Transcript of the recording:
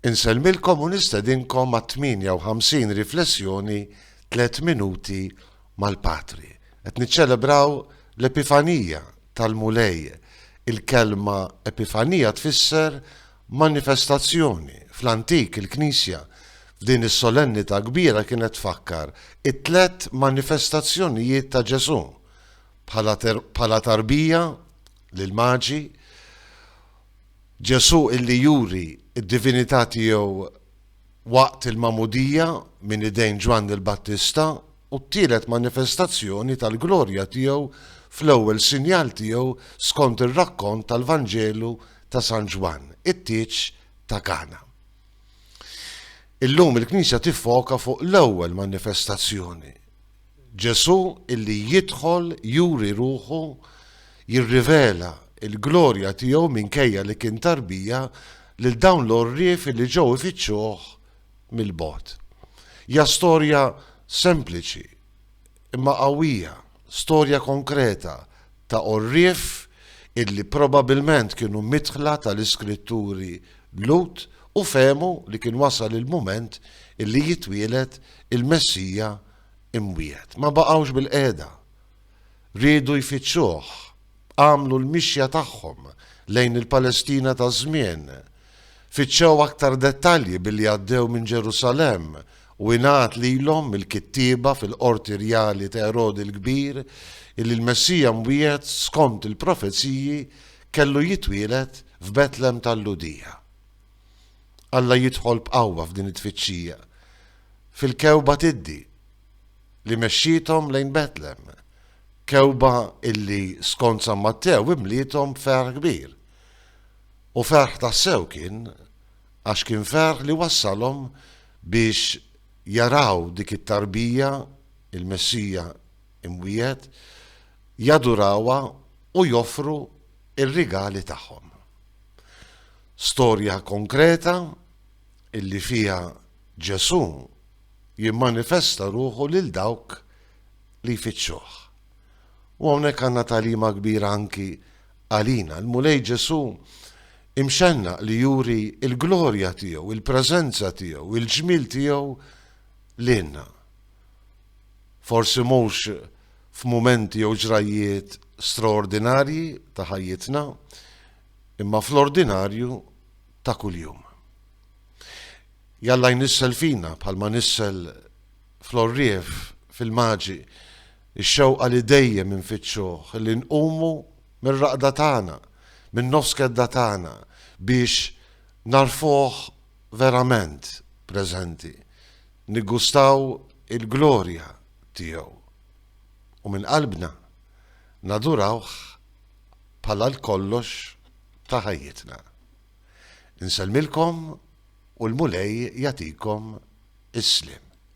Insellmilkom u nistedinkom għat-58 riflessjoni Tliet Minuti mal-Patri. Qed niċċelebraw l-Epifanija tal-Mulej. Il-kelma Epifanija tfisser manifestazzjoni. Fl-antik il-Knisja f'din is-solennità kbira kienet tfakkar it-tliet manifestazzjonijiet ta' Ġesù bħala tarbija lill-Maġi, Ġesù illi juri d-divinità tiegħu waqt il-magħmudija minn idejn Ġwanni l-Battista u t-tielet manifestazzjoni tal-glorja tiegħu fl-ewwel sinjal tiegħu skont ir-rakkont tal-Vanġelu ta' San Ġwann, it-tieġ ta' Kana. Illum il-Knisja tiffoka fuq l-ewwel manifestazzjoni, Ġesù illi jidħol juri ruħu jirrivela l-glorja tiegħu minkejja li kien tarbija lil dawn l-għorrief illi ġew ifittxuh mill-bogħod. Hija storja sempliċi imma qawwija, storja konkreta ta' għorrief illi probabilment kienu midħla tal-iskritturi Lut u fehmu li kien wasal il-mument illi jitwieled il-Messija imwiegħed. Ma baqgħux bilqiegħda. Riedu jfittxuh. Għamlu l-mixja tagħhom lejn il-Palestina taż-żmien. Fittxew aktar dettalji billi għaddew minn Ġerusalemm u ingħad lilhom mill-kittieba fil-qorti rjali ta' Erodi l-Kbir illi l-Messija mwiegħed skont il-profeziji kellu jitwieled f'Betlem tal-Lhudija. Alla jidħol b'qawwa f'din it-tfittxija fil-kewba tiddi li mexxiethom lejn Betlem, kewba illi skont San Mattew imliethom b'ferħ kbir. U ferħ tassew kien għax kien ferħ li wassalhom biex jaraw dik it-tarbija, il-Messija imwiegħed, jadurawha u joffru r-rigali tagħhom. Storja konkreta illi fiha Ġesù jimmanifesta ruħu lil dawk li jfittxuh. U hawnhekk għandna tagħlima kbira anki għalina. Il-Mulej Ġesù imxenna li juri il-glorja tiegħu, il-preżenza tiegħu, il-ġmil tiegħu lilna. Forsi mhux f'mumenti jew ġrajjiet straordinarji ta' ħajjitna, imma fl-ordinarju ta' kuljum. Jalla jnissel fina, bħalma nissel fl-għorrief, fil-maġi, ix-xewqa li dejjem infittxuh, li nqumu mir-raqda tagħna, min-nofskedda tagħna, biex nagħrfuh verament preżenti, niggustaw il-glorja tiegħu u minn qalbna nadurawh bħala l-kollox ta' ħajjitna. Insellmilkom u l-Mulej jagħtikom is-sliem.